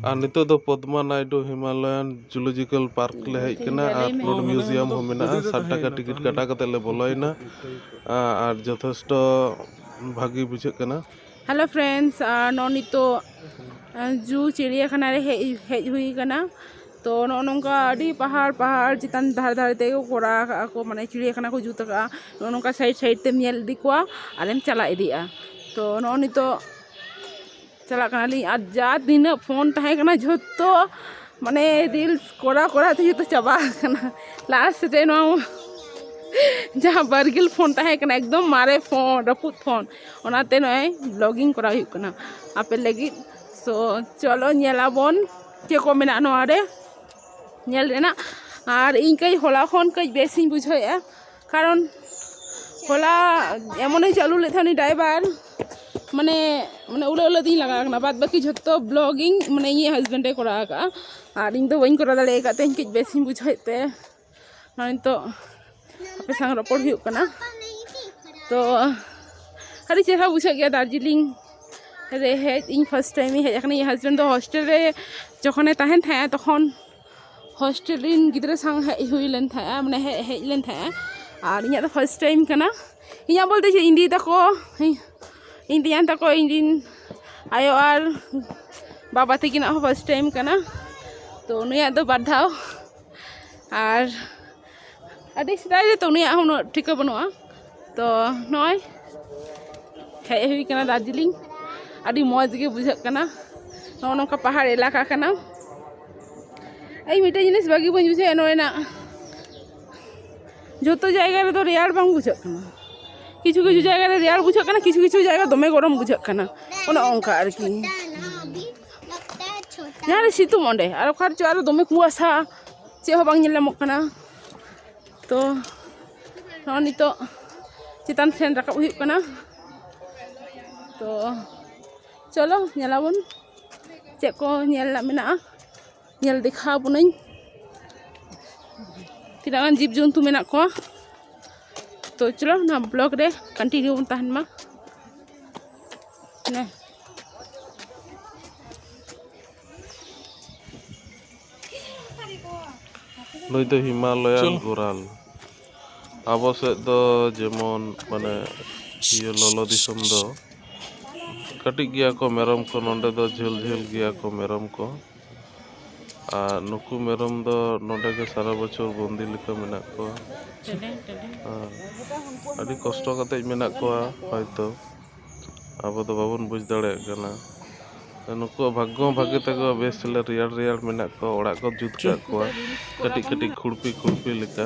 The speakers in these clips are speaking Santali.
ᱟᱨ ᱱᱤᱛᱚᱜ ᱫᱚ Padma Naidu Himalayan zoological park ᱞᱮ ᱦᱮᱡ ᱠᱟᱱᱟ ᱟᱨ ᱨᱳᱰ ᱢᱤᱭᱩᱡᱤᱭᱟᱢ ᱦᱚᱸ ᱢᱮᱱᱟᱜᱼᱟ ᱥᱟᱴ ᱴᱟᱠᱟ ᱴᱤᱠᱤᱴ ᱠᱟᱴᱟᱣ ᱠᱟᱛᱮᱫ ᱞᱮ ᱵᱚᱞᱚᱭᱮᱱᱟ ᱟᱨ ᱡᱚᱛᱷᱮᱥᱴᱚ ᱵᱷᱟᱹᱜᱤ ᱵᱩᱡᱷᱟᱹᱜ ᱠᱟᱱᱟ ᱦᱮᱞᱳ ᱯᱷᱨᱮᱱᱰᱥ ᱱᱚᱜᱼᱚᱭ ᱱᱤᱛᱚᱜ ᱡᱩ ᱪᱤᱲᱤᱭᱟᱠᱷᱟᱱᱟ ᱨᱮ ᱦᱮᱡ ᱦᱮᱡ ᱦᱩᱭ ᱠᱟᱱᱟ ᱛᱚ ᱱᱚᱜᱼᱚ ᱱᱚᱝᱠᱟ ᱟᱹᱰᱤ ᱯᱟᱦᱟᱲ ᱯᱟᱦᱟᱲ ᱪᱮᱛᱟᱱ ᱫᱷᱟᱨᱮ ᱫᱷᱟᱨᱮ ᱛᱮᱜᱮ ᱠᱚ ᱠᱚᱨᱟᱣ ᱠᱟᱜᱼᱟ ᱠᱚ ᱢᱟᱱᱮ ᱪᱤᱲᱭᱟᱠᱷᱟᱱᱟ ᱠᱚ ᱡᱩᱛ ᱠᱟᱜᱼᱟ ᱱᱚᱜᱼᱚ ᱱᱚᱝᱠᱟ ᱥᱟᱭᱤᱰ ᱥᱟᱭᱤᱰ ᱛᱮᱢ ᱧᱮᱞ ᱤᱫᱤ ᱠᱚᱣᱟ ᱟᱨᱮᱢ ᱪᱟᱞᱟᱣ ᱤᱫᱤᱜᱼᱟ ᱛᱚ ᱱᱚᱜᱼᱚᱭ ᱱᱤᱛᱚᱜ ᱪᱟᱞᱟᱜ ᱠᱟᱱᱟᱞᱤᱧ ᱟᱨ ᱡᱟ ᱛᱤᱱᱟᱹᱜ ᱯᱷᱳᱱ ᱛᱟᱦᱮᱸ ᱠᱟᱱᱟ ᱡᱷᱚᱛᱚ ᱢᱟᱱᱮ ᱨᱤᱞᱥ ᱠᱚᱨᱟᱣ ᱠᱚᱨᱟᱣ ᱛᱮ ᱡᱚᱛᱚ ᱪᱟᱵᱟ ᱟᱠᱟᱱᱟ ᱞᱟᱥᱴ ᱨᱮ ᱱᱚᱣᱟ ᱡᱟᱦᱟᱸ ᱵᱟᱨᱜᱤᱞ ᱯᱷᱳᱱ ᱛᱟᱦᱮᱸ ᱠᱟᱱᱟ ᱮᱠᱫᱚᱢ ᱢᱟᱨᱮ ᱯᱷᱳᱱ ᱨᱟᱹᱯᱩᱫ ᱯᱷᱳᱱ ᱚᱱᱟᱛᱮ ᱱᱚᱜᱼᱚᱭ ᱵᱞᱚᱜᱤᱝ ᱠᱚᱨᱟᱣ ᱦᱩᱭᱩᱜ ᱠᱟᱱᱟ ᱟᱯᱮ ᱞᱟᱹᱜᱤᱫ ᱛᱚ ᱪᱚᱞᱚ ᱧᱮᱞ ᱟᱵᱚᱱ ᱪᱮᱫ ᱠᱚ ᱢᱮᱱᱟᱜᱼᱟ ᱱᱚᱣᱟᱨᱮ ᱧᱮᱞ ᱨᱮᱱᱟᱜ ᱟᱨ ᱤᱧ ᱠᱟᱹᱡ ᱦᱚᱞᱟ ᱠᱷᱚᱱ ᱠᱟᱹᱡ ᱵᱮᱥ ᱤᱧ ᱵᱩᱡᱷᱟᱹᱣ ᱮᱜᱼᱟ ᱠᱟᱨᱚᱱ ᱦᱚᱞᱟ ᱮᱢᱚᱱᱮ ᱪᱟᱹᱞᱩ ᱞᱮᱫ ᱛᱟᱦᱮᱱ ᱩᱱᱤ ᱰᱟᱭᱵᱷᱟᱨ ᱢᱟᱱᱮ ᱢᱟᱱᱮ ᱩᱞᱟᱹ ᱩᱞᱟᱹ ᱛᱤᱧ ᱞᱟᱜᱟ ᱠᱟᱱᱟ ᱵᱟᱫ ᱵᱟᱹᱠᱤ ᱡᱷᱚᱛᱚ ᱵᱞᱚᱜ ᱜᱮ ᱢᱟᱱᱮ ᱤᱧᱤᱡ ᱦᱟᱥᱵᱮᱱᱰ ᱮ ᱠᱚᱨᱟᱣ ᱠᱟᱜᱼᱟ ᱟᱨ ᱤᱧᱫᱚ ᱵᱟᱹᱧ ᱠᱚᱨᱟᱣ ᱫᱟᱲᱮ ᱠᱟᱜ ᱛᱮ ᱤᱧ ᱠᱟᱹᱡ ᱵᱮᱥ ᱤᱧ ᱵᱩᱡᱷᱟᱹᱣᱮᱫ ᱛᱮ ᱱᱚᱜᱼᱚᱭ ᱱᱤᱛᱚᱜ ᱟᱯᱮ ᱥᱟᱶ ᱨᱚᱯᱚᱲ ᱦᱩᱭᱩᱜ ᱠᱟᱱᱟ ᱛᱚ ᱟᱹᱰᱤ ᱪᱮᱦᱨᱟ ᱵᱩᱡᱷᱟᱹᱜ ᱜᱮᱭᱟ ᱫᱟᱨᱡᱤᱞᱤᱝ ᱨᱮ ᱦᱮᱡ ᱤᱧ ᱯᱷᱟᱥᱴ ᱴᱟᱭᱤᱢ ᱤᱧ ᱦᱮᱡ ᱠᱟᱱᱟ ᱤᱧ ᱦᱟᱥᱵᱮᱱᱰ ᱫᱚ ᱦᱳᱥᱴᱮᱞ ᱨᱮ ᱡᱚᱠᱷᱚᱱᱮ ᱛᱟᱦᱮᱱ ᱛᱟᱦᱮᱸᱜᱼᱟ ᱛᱚᱠᱷᱚᱱ ᱦᱳᱥᱴᱮᱞ ᱨᱮᱱ ᱜᱤᱫᱽᱨᱟᱹ ᱥᱟᱶ ᱦᱮᱡ ᱦᱩᱭ ᱞᱮᱱ ᱛᱟᱦᱮᱸᱜᱼᱟ ᱢᱟᱱᱮ ᱦᱮᱡ ᱦᱮᱡ ᱞᱮᱱ ᱛᱟᱦᱮᱸᱜᱼᱟ ᱟᱨ ᱤᱧᱟᱹᱜ ᱫᱚ ᱯᱷᱟᱥᱴ ᱴᱟᱭᱤᱢ ᱠᱟᱱᱟ ᱤᱧᱟᱹᱜ ᱵᱚᱞᱛᱮ ᱪᱮᱫ ᱤᱧ ᱫᱤᱫᱤ ᱛᱟᱠᱚ ᱤᱧ ᱛᱮᱧᱟᱝ ᱛᱟᱠᱚ ᱤᱧ ᱨᱮᱱ ᱟᱭᱳ ᱟᱨ ᱵᱟᱵᱟ ᱛᱟᱹᱠᱤᱱᱟᱜ ᱦᱚᱸ ᱯᱷᱟᱥᱴ ᱴᱟᱭᱤᱢ ᱠᱟᱱᱟ ᱛᱚ ᱱᱩᱭᱟᱜ ᱫᱚ ᱵᱟᱨ ᱫᱷᱟᱣ ᱟᱨ ᱟᱹᱰᱤ ᱥᱮᱫᱟᱭ ᱨᱮᱛᱚ ᱩᱱᱤᱭᱟᱜ ᱦᱚᱸ ᱩᱱᱟᱹᱜ ᱴᱷᱤᱠᱟᱹ ᱵᱟᱹᱱᱩᱜᱼᱟ ᱛᱚ ᱱᱚᱜᱼᱚᱸᱭ ᱦᱮᱡ ᱦᱩᱭ ᱠᱟᱱᱟ ᱫᱟᱨᱡᱤᱞᱤᱝ ᱟᱹᱰᱤ ᱢᱚᱡᱽ ᱜᱮ ᱵᱩᱡᱷᱟᱹᱜ ᱠᱟᱱᱟ ᱱᱚᱜᱼᱚᱸᱭ ᱱᱚᱝᱠᱟ ᱯᱟᱦᱟᱲ ᱮᱞᱟᱠᱟ ᱠᱟᱱᱟ ᱤᱧ ᱢᱤᱫᱴᱮᱡ ᱡᱤᱱᱤᱥ ᱵᱷᱟᱹᱜᱤ ᱵᱟᱹᱧ ᱵᱩᱡᱷᱟᱹᱣᱮᱜᱼᱟ ᱱᱚᱰᱮᱱᱟᱜ ᱡᱚᱛᱚ ᱡᱟᱭᱜᱟ ᱨᱮᱫᱚ ᱨᱮᱭᱟᱲ ᱵᱟᱝ ᱵᱩᱡᱷᱟᱹᱜ ᱠᱟᱱᱟ ᱠᱤᱪᱷᱩ ᱠᱤᱪᱷᱩ ᱡᱟᱭᱜᱟ ᱨᱮ ᱨᱮᱭᱟᱲ ᱵᱩᱡᱷᱟᱹᱜ ᱠᱟᱱᱟ ᱠᱤᱪᱷᱩ ᱠᱤᱪᱷᱩ ᱡᱟᱭᱜᱟ ᱫᱚᱢᱮ ᱜᱚᱨᱚᱢ ᱵᱩᱡᱷᱟᱹᱜ ᱠᱟᱱᱟ ᱚᱱᱮ ᱚᱱᱠᱟ ᱟᱨᱠᱤ ᱡᱟᱦᱟᱸᱨᱮ ᱥᱤᱛᱩᱝ ᱚᱸᱰᱮ ᱟᱨ ᱚᱠᱟ ᱨᱮᱪᱚ ᱟᱨᱚ ᱫᱚᱢᱮ ᱠᱩᱣᱟᱥᱟ ᱪᱮᱫ ᱦᱚᱸ ᱵᱟᱝ ᱧᱮᱞ ᱧᱟᱢᱚᱜ ᱠᱟᱱᱟ ᱛᱚ ᱱᱚᱜᱼᱚᱭ ᱱᱤᱛᱚᱜ ᱪᱮᱛᱟᱱ ᱥᱮᱱ ᱨᱟᱠᱟᱵ ᱦᱩᱭᱩᱜ ᱠᱟᱱᱟ ᱛᱚ ᱪᱚᱞᱚ ᱧᱮᱞᱟᱵᱚᱱ ᱪᱮᱫ ᱠᱚ ᱧᱮᱞ ᱨᱮᱱᱟᱜ ᱢᱮᱱᱟᱜᱼᱟ ᱧᱮᱞ ᱫᱮᱠᱷᱟᱣ ᱟᱵᱚᱱᱟᱹᱧ ᱛᱤᱱᱟᱹᱜ ᱜᱟᱱ ᱡᱤᱵᱽ ᱡᱚᱱᱛᱩ ᱢᱮᱱᱟᱜ ᱠᱚᱣᱟ ᱛᱚ ᱪᱚᱞᱚ ᱱᱚᱣᱟ ᱵᱞᱚᱜᱽ ᱨᱮ ᱠᱚᱱᱴᱤᱱᱤᱭᱩ ᱵᱚᱱ ᱛᱟᱦᱮᱱ ᱢᱟ ᱦᱮᱸ ᱱᱩᱭ ᱫᱚ ᱦᱤᱢᱟᱞᱚᱭᱟᱱ ᱜᱳᱨᱟᱞ ᱟᱵᱚ ᱥᱮᱫ ᱫᱚ ᱡᱮᱢᱚᱱ ᱢᱟᱱᱮ ᱤᱭᱟᱹ ᱞᱚᱞᱚ ᱫᱤᱥᱚᱢ ᱫᱚ ᱠᱟᱹᱴᱤᱡ ᱜᱮᱭᱟ ᱠᱚ ᱢᱮᱨᱚᱢ ᱠᱚ ᱱᱚᱰᱮ ᱫᱚ ᱡᱷᱟᱹᱞ ᱡᱷᱟᱹᱞ ᱜᱮᱭᱟ ᱠᱚ ᱢᱮᱨᱚᱢ ᱠᱚ ᱟᱨ ᱱᱩᱠᱩ ᱢᱮᱨᱚᱢ ᱫᱚ ᱱᱚᱰᱮ ᱜᱮ ᱥᱟᱨᱟ ᱵᱚᱪᱷᱚᱨ ᱵᱚᱱᱫᱤ ᱞᱮᱠᱟ ᱢᱮᱱᱟᱜ ᱠᱚᱣᱟ ᱟᱨ ᱟᱹᱰᱤ ᱠᱚᱥᱴᱚ ᱠᱟᱛᱮᱫ ᱢᱮᱱᱟᱜ ᱠᱚᱣᱟ ᱦᱚᱭᱛᱳ ᱟᱵᱚ ᱫᱚ ᱵᱟᱵᱚᱱ ᱵᱩᱡᱽ ᱫᱟᱲᱮᱭᱟᱜ ᱠᱟᱱᱟ ᱱᱩᱠᱩᱣᱟᱜ ᱵᱷᱟᱜᱽᱜᱚ ᱦᱚᱸ ᱵᱷᱟᱜᱮ ᱛᱟᱠᱚᱣᱟ ᱵᱮᱥ ᱪᱮᱞᱮ ᱨᱮᱭᱟᱲ ᱨᱮᱭᱟᱲ ᱢᱮᱱᱟᱜ ᱠᱚᱣᱟ ᱚᱲᱟᱜ ᱠᱚ ᱡᱩᱛ ᱠᱟᱜ ᱠᱚᱣᱟ ᱠᱟᱹᱴᱤᱡ ᱠᱟᱹᱴᱤᱡ ᱠᱷᱩᱲᱯᱤ ᱠᱷᱩᱲᱯᱤ ᱞᱮᱠᱟ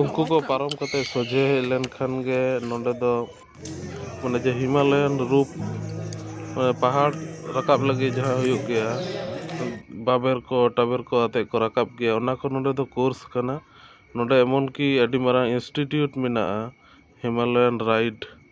ᱩᱱᱠᱩ ᱠᱚ ᱯᱟᱨᱚᱢ ᱠᱟᱛᱮ ᱥᱚᱡᱷᱮ ᱦᱮᱡ ᱞᱮᱱᱠᱷᱟᱱ ᱜᱮ ᱱᱚᱰᱮ ᱫᱚ ᱢᱟᱱᱮ ᱡᱮ ᱦᱤᱢᱟᱞᱚᱭᱟᱱ ᱨᱩᱯ ᱢᱟᱱᱮ ᱯᱟᱦᱟᱲ ᱨᱟᱠᱟᱵ ᱞᱟᱹᱜᱤᱫ ᱡᱟᱦᱟᱸ ᱦᱩᱭᱩᱜ ᱜᱮᱭᱟ ᱵᱟᱵᱮᱨ ᱠᱚ ᱴᱟᱵᱮᱨ ᱠᱚ ᱟᱛᱮᱫ ᱠᱚ ᱨᱟᱠᱟᱵ ᱜᱮᱭᱟ ᱚᱱᱟ ᱠᱚ ᱱᱚᱰᱮ ᱫᱚ ᱠᱳᱨᱥ ᱠᱟᱱᱟ ᱱᱚᱰᱮ ᱮᱢᱚᱱ ᱠᱤ ᱟᱹᱰᱤ ᱢᱟᱨᱟᱝ ᱤᱱᱥᱴᱤᱴᱤᱭᱩᱴ ᱢᱮᱱᱟᱜᱼᱟ ᱦᱤᱢᱟᱞᱚᱭᱟᱱ ᱨᱟᱭᱤᱰ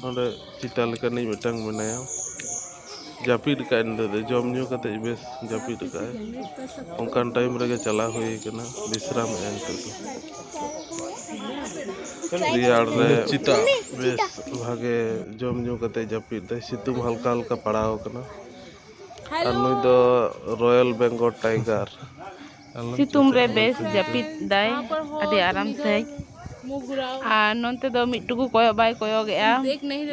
ᱱᱚᱰᱮ ᱪᱮᱛᱟ ᱞᱮᱠᱟᱱᱤᱡ ᱢᱤᱫᱴᱟᱝ ᱢᱮᱱᱟᱭᱟ ᱡᱟᱹᱯᱤᱫ ᱟᱠᱟᱫᱟᱭ ᱱᱤᱛᱳ ᱫᱚ ᱡᱚᱢ ᱧᱩ ᱠᱟᱛᱮ ᱵᱮᱥ ᱡᱟᱹᱯᱤᱫ ᱟᱠᱟᱫᱟᱭ ᱚᱱᱠᱟᱱ ᱴᱟᱭᱤᱢ ᱨᱮᱜᱮ ᱪᱟᱞᱟᱣ ᱦᱩᱭ ᱠᱟᱱᱟ ᱵᱤᱥᱨᱟᱢ ᱮᱫᱟᱭ ᱱᱤᱛᱳᱜ ᱫᱚ ᱨᱮᱭᱟᱲ ᱨᱮ ᱪᱮᱛᱟ ᱵᱮᱥ ᱵᱷᱟᱜᱮ ᱡᱚᱢ ᱧᱩ ᱠᱟᱛᱮ ᱡᱟᱹᱯᱤᱫ ᱫᱟᱭ ᱥᱤᱛᱩᱝ ᱦᱟᱞᱠᱟ ᱦᱟᱞᱠᱟ ᱯᱟᱲᱟᱣ ᱠᱟᱱᱟ ᱟᱨ ᱱᱩᱭ ᱫᱚ ᱨᱚᱭᱮᱞ ᱵᱮᱝᱜᱚᱞ ᱴᱟᱭᱜᱟᱨ ᱥᱤᱛᱩᱝ ᱨᱮ ᱵᱮᱥ ᱡᱟᱹᱯᱤᱫ ᱫᱟᱭ ᱟᱹᱰᱤ ᱟᱨᱟᱢ ᱥᱟᱺᱦᱤᱡ ᱟᱨ ᱱᱚᱱᱛᱮ ᱫᱚ ᱢᱤᱫ ᱴᱩᱠᱩ ᱠᱚᱭᱚᱜ ᱵᱟᱭ ᱠᱚᱭᱚᱜᱮᱜᱼᱟ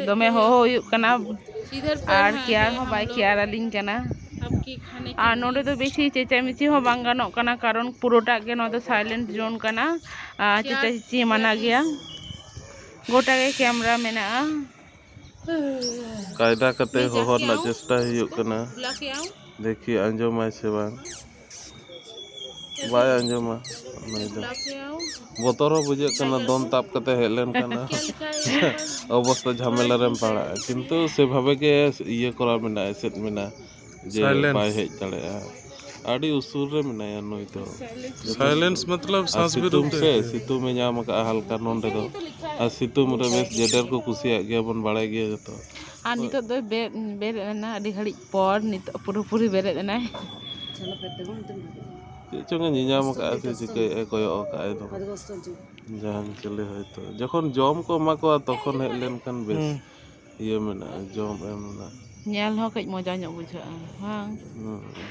ᱫᱚᱢᱮ ᱦᱚᱦᱚ ᱦᱩᱭᱩᱜ ᱠᱟᱱᱟ ᱟᱨ ᱠᱮᱭᱟᱨ ᱦᱚᱸ ᱵᱟᱭ ᱠᱮᱭᱟᱨ ᱟᱹᱞᱤᱧ ᱠᱟᱱᱟ ᱟᱨ ᱱᱚᱰᱮ ᱫᱚ ᱵᱮᱥᱤ ᱪᱮᱪᱟᱢᱮᱪᱤ ᱦᱚᱸ ᱵᱟᱝ ᱜᱟᱱᱚᱜ ᱠᱟᱱᱟ ᱠᱟᱨᱚᱱ ᱯᱩᱨᱟᱹᱴᱟᱜ ᱜᱮ ᱱᱚᱣᱟ ᱫᱚ ᱥᱟᱭᱞᱮᱱᱴ ᱡᱳᱱ ᱠᱟᱱᱟ ᱪᱮᱪᱟᱪᱮᱪᱤ ᱢᱟᱱᱟ ᱜᱮᱭᱟ ᱜᱚᱴᱟ ᱜᱮ ᱠᱮᱢᱨᱟ ᱢᱮᱱᱟᱜᱼᱟ ᱠᱟᱭᱫᱟ ᱠᱟᱛᱮ ᱦᱚᱦᱚ ᱨᱮᱱᱟᱜ ᱪᱮᱥᱴᱟ ᱦᱩᱭᱩᱜ ᱠᱟᱱᱟ ᱫᱮᱠᱷᱤ ᱟᱸᱡᱚᱢᱟᱭ ᱥᱮ ᱵᱟᱝ ᱵᱟᱭ ᱟᱸᱡᱚᱢᱟ ᱱᱩᱭ ᱫᱚ ᱵᱚᱛᱚᱨ ᱦᱚᱸ ᱵᱩᱡᱷᱟᱹᱜ ᱠᱟᱱᱟ ᱫᱚᱱ ᱛᱟᱵ ᱠᱟᱛᱮ ᱦᱮᱡ ᱞᱮᱱᱠᱷᱟᱱ ᱚᱵᱚᱥᱛᱟ ᱡᱷᱟᱢᱮᱞᱟ ᱨᱮᱢ ᱯᱟᱲᱟᱜᱼᱟ ᱠᱤᱱᱛᱩ ᱥᱮᱵᱷᱟᱵᱮ ᱜᱮ ᱤᱭᱟᱹ ᱠᱚᱨᱟᱣ ᱢᱮᱱᱟᱜᱼᱟ ᱮᱥᱮᱫ ᱢᱮᱱᱟᱜᱼᱟ ᱡᱮ ᱥᱟᱭᱞᱮᱱᱥ ᱵᱟᱭ ᱦᱮᱡ ᱫᱟᱲᱮᱭᱟᱜᱼᱟ ᱟᱹᱰᱤ ᱩᱥᱩᱞ ᱨᱮ ᱢᱮᱱᱟᱭᱟ ᱱᱩᱭ ᱫᱚ ᱥᱟᱭᱞᱮᱱᱥ ᱢᱚᱛᱞᱚᱵ ᱟᱨ ᱥᱟᱸᱥ ᱵᱤᱨᱩ ᱥᱤᱛᱩᱝ ᱥᱮ ᱥᱤᱛᱩᱝ ᱮ ᱧᱟᱢ ᱟᱠᱟᱫᱼᱟ ᱦᱟᱞᱠᱟ ᱱᱚᱸᱰᱮ ᱫᱚ ᱟᱨ ᱥᱤᱛᱩᱝ ᱨᱮ ᱵᱮᱥ ᱡᱮᱰᱮᱨ ᱠᱚ ᱠᱩᱥᱤᱭᱟᱜ ᱜᱮᱭᱟ ᱵᱚᱱ ᱵᱟᱲᱟᱭ ᱜᱮᱭᱟ ᱡᱚᱛᱚ ᱟᱨ ᱱᱤᱛᱚᱜ ᱫᱚᱭ ᱵᱮᱨᱮᱫ ᱵᱮᱨᱮᱫ ᱮᱱᱟ ᱟᱹᱰᱤ ᱜᱷᱟᱹᱲᱤᱡ ᱯᱚᱨ ᱱᱤᱛᱚᱜ ᱯᱩᱨᱟᱹ ᱯᱩᱨᱤ ᱵᱮᱨᱮᱫ ᱮᱱᱟᱭ ᱪᱮᱫ ᱪᱚᱝᱮ ᱧᱮᱧᱟᱢ ᱟᱠᱟᱫᱼᱟ ᱥᱮ ᱪᱤᱠᱟᱹᱭᱮᱫᱼᱟ ᱠᱚᱭᱚᱜ ᱟᱠᱟᱫᱼᱟᱭ ᱫᱚᱢᱮ ᱡᱟᱦᱟᱱ ᱪᱤᱞᱤ ᱦᱚᱭᱛᱳ ᱡᱚᱠᱷᱚᱱ ᱡᱚᱢ ᱠᱚ ᱮᱢᱟ ᱠᱚᱣᱟ ᱛᱚᱠᱷᱚᱱ ᱦᱮᱡ ᱞᱮᱱᱠᱷᱟᱱ ᱵᱮᱥ ᱤᱭᱟᱹ ᱢᱮᱱᱟᱜᱼᱟ ᱡᱚᱢ ᱮᱢ ᱨᱮᱱᱟᱜ ᱧᱮᱞ ᱦᱚᱸ ᱠᱟᱹᱡ ᱢᱚᱡᱟ ᱧᱚᱜ ᱵᱩᱡᱷᱟᱹᱜᱼᱟ ᱵᱟᱝ ᱦᱮᱸ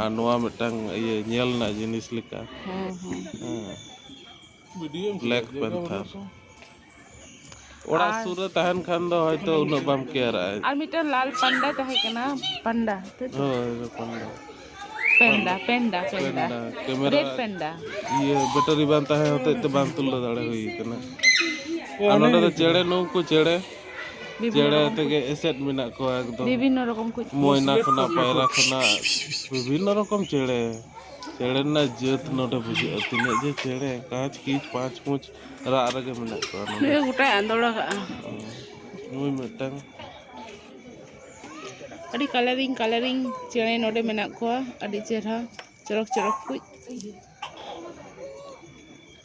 ᱟᱨ ᱱᱚᱣᱟ ᱢᱤᱫᱴᱟᱝ ᱤᱭᱟᱹ ᱧᱮᱞ ᱨᱮᱱᱟᱜ ᱡᱤᱱᱤᱥ ᱞᱮᱠᱟ ᱵᱞᱮᱠ ᱯᱮᱱᱛᱷᱟᱨ ᱚᱲᱟᱜ ᱥᱩᱨ ᱨᱮ ᱛᱟᱦᱮᱱ ᱠᱷᱟᱱ ᱫᱚ ᱦᱚᱭᱛᱚ ᱩᱱᱟᱹᱜ ᱵᱟᱢ ᱠᱮᱭᱟᱨᱟᱜᱼᱟ ᱟᱨ ᱢᱤᱫᱴᱟᱝ ᱞᱟᱞ ᱯᱟᱱᱰᱟ ᱛᱟᱦᱮᱸ ᱠᱟᱱᱟ ᱯᱟᱱᱰᱟ ᱦᱳᱭ ᱯᱟᱱᱰᱟ ᱯᱮᱱᱰᱟ ᱯᱮᱱᱰᱟ ᱯᱮᱱᱰᱟ ᱠᱮᱢᱮᱨᱟ ᱨᱮᱰ ᱯᱮᱱᱰᱟ ᱤᱭᱟᱹ ᱵᱮᱴᱟᱨᱤ ᱵᱟᱝ ᱛᱟᱦᱮᱸ ᱦᱚᱛᱮᱡ ᱛᱮ ᱵᱟᱝ ᱛᱩᱞᱟᱹᱣ ᱫᱟᱲᱮ ᱦᱩᱭ ᱠᱟᱱᱟ ᱟᱨ ᱱᱚᱰᱮ ᱫᱚ ᱪᱮᱬᱮ ᱱᱩᱠᱩ ᱪᱮᱬᱮ ᱪᱮᱬᱮ ᱛᱮᱜᱮ ᱮᱥᱮᱫ ᱢᱮᱱᱟᱜ ᱠᱚᱣᱟ ᱮᱠᱫᱚᱢ ᱵᱤᱵᱷᱤᱱᱱᱚ ᱨᱚᱠᱚᱢ ᱠᱚ ᱢᱚᱭᱱᱟ ᱠᱷᱚᱱᱟᱜ ᱯᱟᱭᱨᱟ ᱠᱷᱚᱱᱟᱜ ᱵᱤᱵᱷᱤᱱᱱᱚ ᱨᱚᱠᱚᱢ ᱪᱮᱬᱮ ᱪᱮᱬᱮ ᱨᱮᱱᱟᱜ ᱡᱟᱹᱛ ᱱᱚᱰᱮ ᱵᱩᱡᱷᱟᱹᱜᱼᱟ ᱛᱤᱱᱟᱹᱜ ᱡᱮ ᱪᱮᱬᱮ ᱠᱟᱸᱪ ᱠᱤᱪ ᱯᱟᱸᱪ ᱯᱩᱸᱪ ᱨᱟᱜ ᱨᱮᱜᱮ ᱢᱮᱱᱟᱜ ᱠᱚᱣᱟ ᱱᱚᱰᱮ ᱜᱚᱴᱟᱭ ᱟᱸᱫᱳᱲ ᱟᱠᱟᱜᱼᱟ ᱱᱩᱭ ᱢᱤᱫᱴᱟᱝ ᱟᱹᱰᱤ ᱠᱟᱞᱟᱨᱤᱝ ᱠᱟᱞᱟᱨᱤᱝ ᱪᱮᱬᱮ ᱱᱚᱰᱮ ᱢᱮᱱᱟᱜ ᱠᱚᱣᱟ ᱟᱹᱰᱤ ᱪᱮᱦᱨᱟ ᱪᱚᱨᱚᱠ ᱪᱚᱨᱚᱠ ᱠᱚ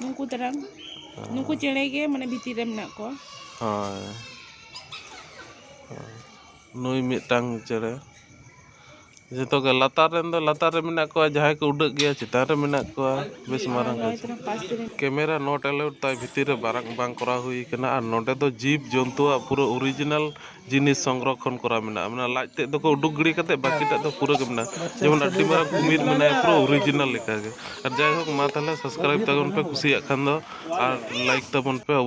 ᱱᱩᱠᱩ ᱛᱟᱨᱟᱝ ᱱᱩᱠᱩ ᱪᱮᱬᱮ ᱜᱮ ᱢᱟᱱᱮ ᱵᱷᱤᱛᱤᱨ ᱨᱮ ᱢᱮᱱᱟᱜ ᱠᱚᱣᱟ ᱦᱳᱭ ᱱᱩᱭ ᱢᱤᱫᱴᱟᱝ ᱪᱮᱬᱮ ᱡᱚᱛᱚ ᱜᱮ ᱞᱟᱛᱟᱨ ᱨᱮᱱ ᱫᱚ ᱞᱟᱛᱟᱨ ᱨᱮ ᱢᱮᱱᱟᱜ ᱠᱚᱣᱟ ᱡᱟᱦᱟᱸᱭ ᱠᱚ ᱩᱰᱟᱹᱜ ᱜᱮᱭᱟ ᱪᱮᱛᱟᱱ ᱨᱮ ᱢᱮᱱᱟᱜ ᱠᱚᱣᱟ ᱵᱮᱥ ᱢᱟᱨᱟᱝ ᱱᱚᱜᱼᱚᱭ ᱜᱟᱡᱮ ᱛᱟᱨᱟᱝ ᱯᱟᱥ ᱨᱮ ᱠᱮᱢᱮᱨᱟ ᱱᱚᱴ ᱮᱞᱟᱣᱩᱰ ᱛᱟᱭ ᱵᱷᱤᱛᱤᱨ ᱨᱮ ᱵᱟᱝ ᱵᱟᱝ ᱠᱚᱨᱟᱣ ᱦᱩᱭ ᱠᱟᱱᱟ ᱟᱨ ᱱᱚᱰᱮ ᱫᱚ ᱡᱤᱵᱽ ᱡᱚᱱᱛᱩᱣᱟᱜ ᱯᱩᱨᱟᱹ ᱚᱨᱤᱡᱤᱱᱟᱞ ᱡᱤᱱᱤᱥ ᱥᱚᱝᱨᱚᱠᱷᱚᱱ ᱠᱚᱨᱟᱣ ᱢᱮᱱᱟᱜᱼᱟ ᱢᱟᱱᱮ ᱞᱟᱡ ᱛᱮᱫ ᱫᱚᱠᱚ ᱩᱰᱩᱠ ᱜᱤᱰᱤ ᱠᱟᱛᱮ ᱵᱟᱹᱠᱤᱴᱟᱜ ᱫᱚ ᱯᱩᱨᱟᱹ ᱜᱮ ᱢᱮᱱᱟᱜᱼᱟ ᱡᱮᱢᱚᱱ ᱟᱹᱰᱤ ᱢᱟᱨᱟᱝ ᱠᱩᱢᱤᱨ ᱢᱮᱱᱟᱭᱟ ᱯᱩᱨᱟᱹ ᱚᱨᱤᱡᱤᱱᱟᱞ ᱞᱮᱠᱟᱜᱮ ᱟᱨ ᱡᱟᱭᱦᱳᱠ ᱢᱟ ᱛᱟᱦᱚᱞᱮ ᱥᱟᱵᱥᱠᱨᱟᱭᱤᱵᱽ ᱛᱟᱵᱚᱱ ᱯᱮ ᱠᱩᱥᱤᱭᱟᱜ ᱠᱷᱟᱱ ᱫᱚ ᱟᱨ ᱞᱟᱭᱤᱠ ᱛᱟᱵᱚᱱ ᱯᱮ ᱚᱵᱚᱥᱥᱳᱭ